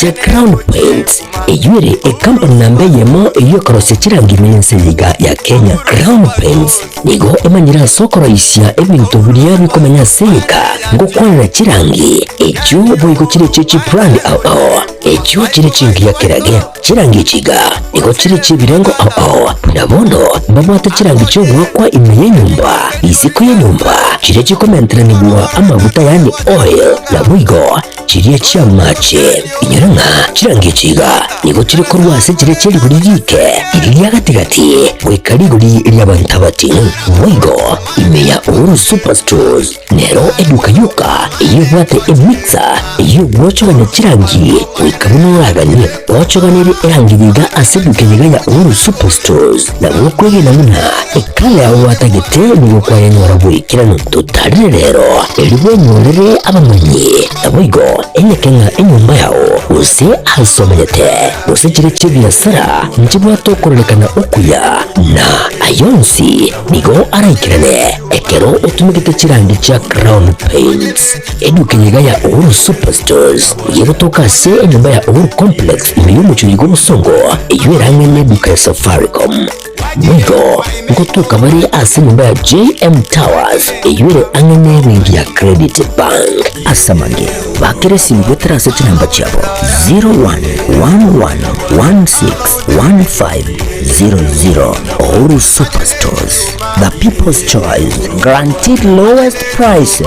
The Crown Paints, eyio ere ekampuni namba eyemo eyio ekorosia chirangi ime y'ense yaiga ya Kenya. Crown Paints nigo emanyire ase okoroisia ebinto biria bikomenya ase enka ngokwanera chirangi echio boigo chire echie chibrand ao ao echio chire chingiya kerage. Chirangi echi iga nigo chire echiebirengo ao ao buna bono mbabwate chirangi chi'ogoakwa ime y'enyomba, isiko y'enyomba chiria chikomenteranigwa amaguta yaani oil, naboigo Chiria chi'amaache, inyora ng'a chirangecho iga, nigo chire korwa ase chiria chia rigori riike iri ria gati-gati goika rigori ri'abanto abatino. Boigo, ime ya Uhuru Superstores nero eduka yoka eyebwate emixer ey'ogwochogania chirangi goika buna oraganie. Gochoganeri erangeri iga ase duke niga ya Ouro Superstores na gokwegena buna ekale agwo gwatagete nigo kwayanyora bwekirano totarire rero erio bwenyorere abamanyi naboigo enyeke ng'a enyomba yao gose aase omanyete gose chire chi'ebiasara nchibwate okororekana okuya na ayio onsi nigo araikerane ekero otumegete chirangi chia Crown Paints. Eduka niga ya Uhuru Superstores niga egotoka ase enyomba ya Uhuru Complex ime y'omochori gw'obosongo eyio ere ang'e n'eduka ya Safaricom. Boigo ngotoka bare ase enyomba ya JM Towers eyio ere ang'e n'ebenki ya Credit Bank. Ase amang'e bakera esimu goetera ase chinamba chiabo 0111161500. Uhuru Superstores, the people's choice, guaranteed lowest prices.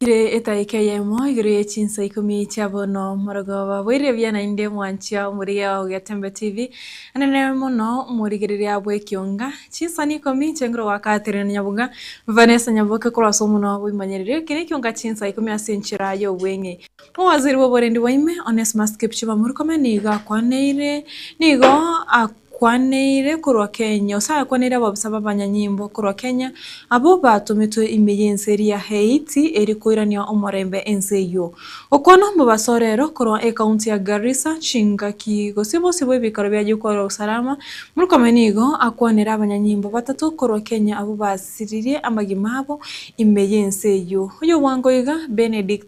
Kire etaika eyemo igoro ye chinsa ikomi chia bono morogoba boire buya naende mwanchia omorigia o Getembe TV anene mono omorigereria bw'ekionga chinsa ne ikomi chia igoro goaka tere na nyabuga Vanessa Nyaboke korwa ase omonwa obo imanyerire eke ne ekionga chinsa ikomi ase enchera y'obweng'e Omowaziri bw'oborendi bwa ime Onesmus Kipchumba Murkomen nigo akwaneire nigo Kwaneire korwa kenya, ase ayakwaneire ababisa b'abanyanyimbo korwa kenya, abwo batometwe ime y'ense eria Haiti eri koirania omorembe ense eyio. Okwana omobasa orero korwa ekaunti ya Garissa, chingaki, gose bosio bw'ebikaro bi'ayio kwarwa Usalama, Murkomen nigo akwanera abanyanyimbo batato korwa kenya abwo basiririe amagima abo ime y'ense eyio. Oyobwango iga, Benedict.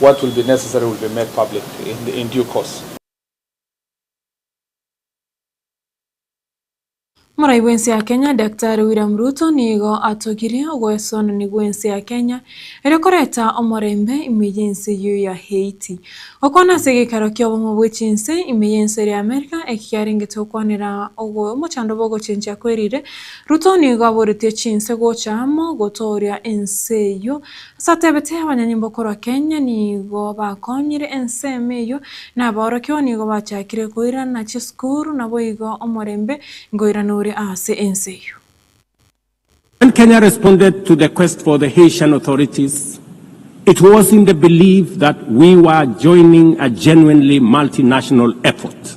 What will be necessary will be made public in due course. Morai bw'ense ya Kenya Daktari William Ruto nigo atogirie ogoesonani gw'ense ya Kenya ere koreta omorembe ime y'ense eyio ya Haiti. Gokwana ase egeikaro ki'obong'u bwe chinse ime y'ense eria Amerika eki kiarengete gokwanera omochandroba ogochenchia kwerire, Ruto nigo aboretie chinse gocha amo gotooria ense eyio Ase atebete abanyanyimbo korwa Kenya nigo bakonyire ensemo eyio, na abaorokia oo nigo bachakire koirana chisukuru, naboigo omorembe nkoirana ore aase ense eyio. When Kenya responded to the quest for the Haitian authorities, it was in the belief that we were joining a genuinely multinational effort.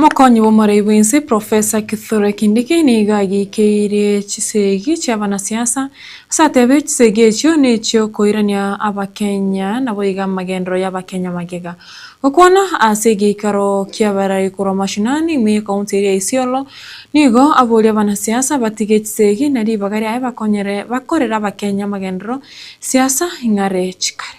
Mokonyi bw'omorai bw'ense Professor Kithure Kindiki nigo agiikeirie chisegi chi'abanasiasa ase atebiire chisegi echio nechiokoirania abakenya naboiga amagenderero y'abakenya magega. Gokwana ase egeikaro ki'abarari korwa mashinani imwe y'ecounty eria ya Isiolo nigo aboria abanasiasa batige chisegi na ribaga riaye bakonyere bakorere abakenya amagenderero siasa ing'are chikare.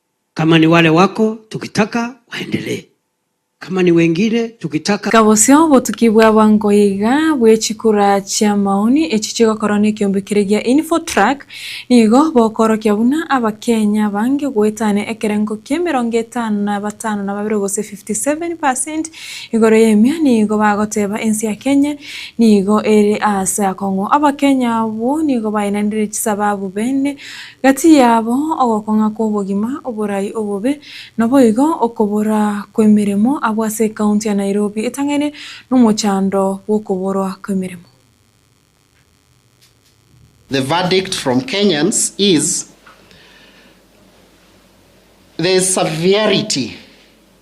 Kama ni wale wako tukitaka waendelee Kama ni wengine tukitaka. Iga bosio obotuki bwa abango iga bwe chikura chia maoni echi chigokorwa ne ekiombe kere gia Info Track nigo bokoorokia buna Abakenya bange goetania ekerengo kia emerongo etano na batano na babere gose 57 percent igoro y'emia nigo bagoteba ense ya Kenya nigo ere aase akong'u. Abakenya abwo nigo bainanire chisababu bene Gati yabo ogokong'a kw'obogima, oborai, obobe, naboigo okobora kw'emeremo abwo ase ekaunti ya Nairobi etang'aine nomochando bw'okoborwa kw'emeremo. The verdict from Kenyans is, There is severity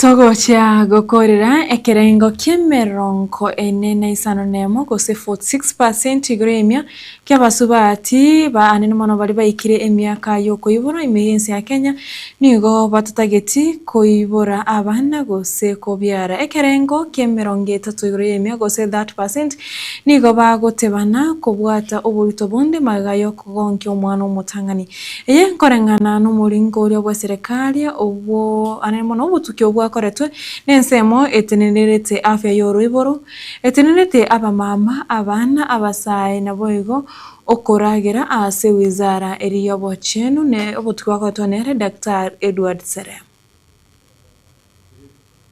Togochia gokorera ekerengo ki'emerongo ene na isano na emo, gose 46 per cent, igoro y'emia ki'abasubati baanene mono baria baikire emiaka y'okoiborwa ime y'ense ya Kenya nigo batotageti koibora abana gose kobiara. Ekerengo ki'emerongo etato igoro y'emia, gose 30 per cent, nigo bagotebana kobwata oboruto bonde magega y'okogonkia omwana omotang'ani. Eye nkoreng'ana nomoringo oria bwa Serekari obwo are mono obotuki obwakoretwe nensemo etenenenete afya y'oroiboro, etenenete abamama, abana, abasae, naboigo okoragera ase wizara eri y'obochenu ne obotuki bwakoretwe nere Daktari Edward Serem.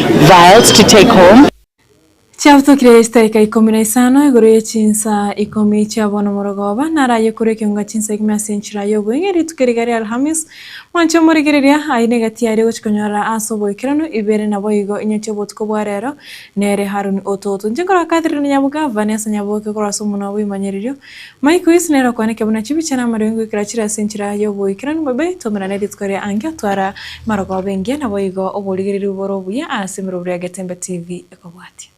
vials to take home. Chiabotokire eitaika ikomi na isano igoro ye chinsa ikomi chia bono omoroga oba naraye korwa ekeunga chinsa ikomi ase enchera y'oboing'e rituko riga ria Alhamis. Mwanche omorigereria aine egati yaria gochia konyorera ase oboikeranu ibere naboigo inyochia obotuko bwa rero nere Haruni ototo. Inche nkorwa Catherine Nyabogava, ne ase Nyaboke korwa ase omonwa bw'imanyeririo, Maiko Yesu nere okwaneke buna chibicha na amarengo ekero achire ase enchera y'oboikeranu bobe, twomera nerituko ria angio twara marogoba engiya naboigo oborigereri bore obuya ase emerobio ya Getembe TV ekobwatia.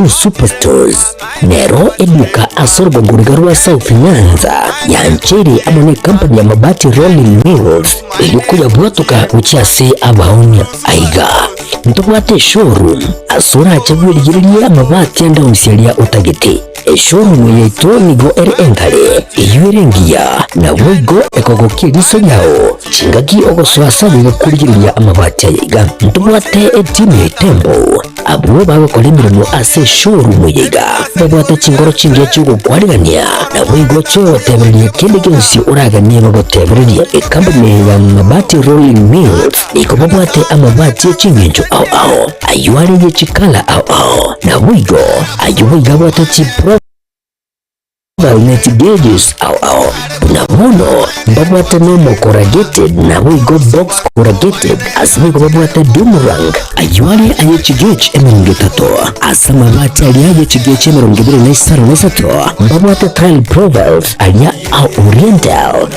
Superstores nero eduka ase orogogoriga rwa South Nyanza yanchere amo ne company ya Mabati Rolling Mills erio koyabwatoka gochia ase abaoni aiga ntobwate showroom ase orache bwerigererie amabati ande onsi aria otagete Esuomumo yaito nigo ere enkare, eyio ere engiya, naboigo ekogokia eriso riao chingaki ogosoa ase ayiga korigereria amabati ayiga. Ntobwate etimu ya etembo, abwo bagokora emeremo ase esuomumo yaiga babwate chinkoro chingiya chi'ogokwanigania, naboigo chiogotebereria kende gionsi oraganire gotebereria. Ekampuni ya Mabati Rolling Mills. Nigo babwate amabati e ching'encho ao ao, ayio are ye chikala ao ao, naboigo ayio boigo abwate chiprovine ne chigages ao ao, buna bono mbabwate nomo corrugated naboigo box corrugated, ase nigo babwate doom rank, ayio are aye chigage emerongo etato, ase amabati aria aye chigage emerongo ebere na isano na isato mbabwate tile profiles aria a oriental.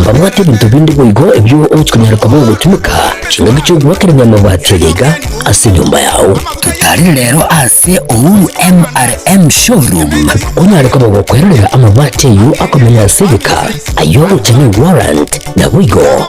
Mbabwate ebinto binde boigo ebio ochia konyara koba ogotunyuka, chingaki chi'ogoakera enyama bwati egeiga ase enyomba yao. Totarire rero ase Uhuru MRM Showroom onyare koba ogokwerorera amabati ayio akomenya ase egeka, ayio ogocha ne warrant, naboigo.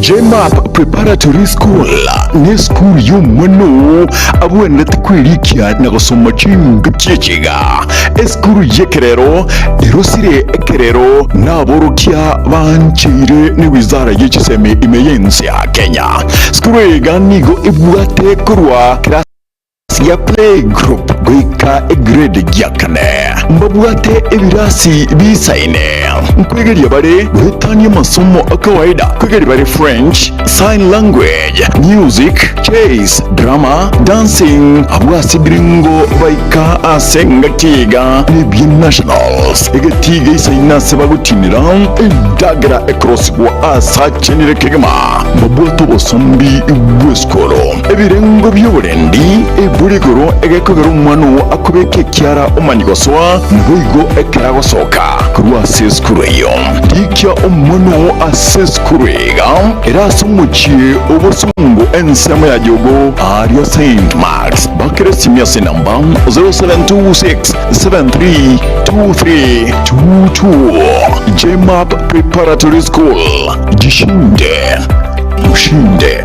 JMAP Preparatory School nesukuru y'omwana oo abwenerete kwerikia na gosoma ching'iti chi'echiga. Esukuru y'ekerero erosire ekerero n'aborokia baancheire ne Wizara ye Chisemi ime y'ense ya Kenya. Sukuru iga nigo ebwate korwa class Sia playgroup goika egrade gia kane mbabwate ebirasi bisaine nkwegeria bare goetania amasomo akawaida kwegeria bare French, Sign Language, Music, Chess, Drama, Dancing abwo ase ebirengo baika ase engaki iga nebia Nationals egetiga isaine ase bagotinera endagera ekorosibwa asachenire kegima mbabwate obosombi bw'esukuru. Ebirengo bi'oborendi ebure igoro egekogera omwana oo akobeka ekiara omani gosoa, naboigo ekero agosoka korwa ase esukuru eyio. Rikia omwana oo ase esukuru iga ere ase omochie o bosongo ensemo ya Jogo aria Saint Marks, bakeresimia ase enamba 0726 732222 JMAP Preparatory School, Jishinde Mushinde.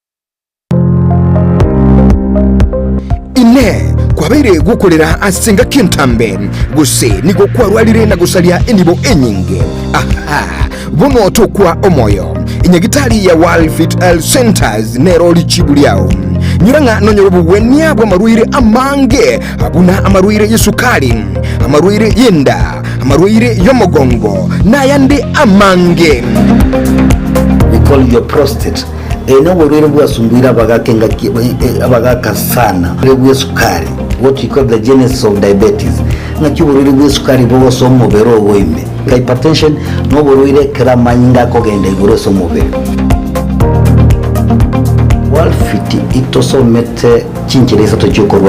Inee! Kwabeire gokorera ase engaki entambe, gose nigo kwarwarire na gosaria enibo enyinge? Aha! Bono tokwa omoyo. Nyagitari ya World Fit Health Centers nero richibu riao. Nyora ng'a nonyore obogwenia bw'amarwaire amange buna amarwaire y'esukari, amarwaire y'enda, amarwaire y'omogongo, na ayande amange. They call your prostate Eeno, oborwaire bwasumbuire abagaaka engaki abagaaka sana, oborwaire bw'esukari, what we call the genesis of diabetes. Ng'aki oborwaire bw'esukari bogosoa omobere ogo ime? Hypertension noborwaire ekero amanyinga akogenda igoro ase omobere. World Fit itosomete chinchera isato chiokorwania.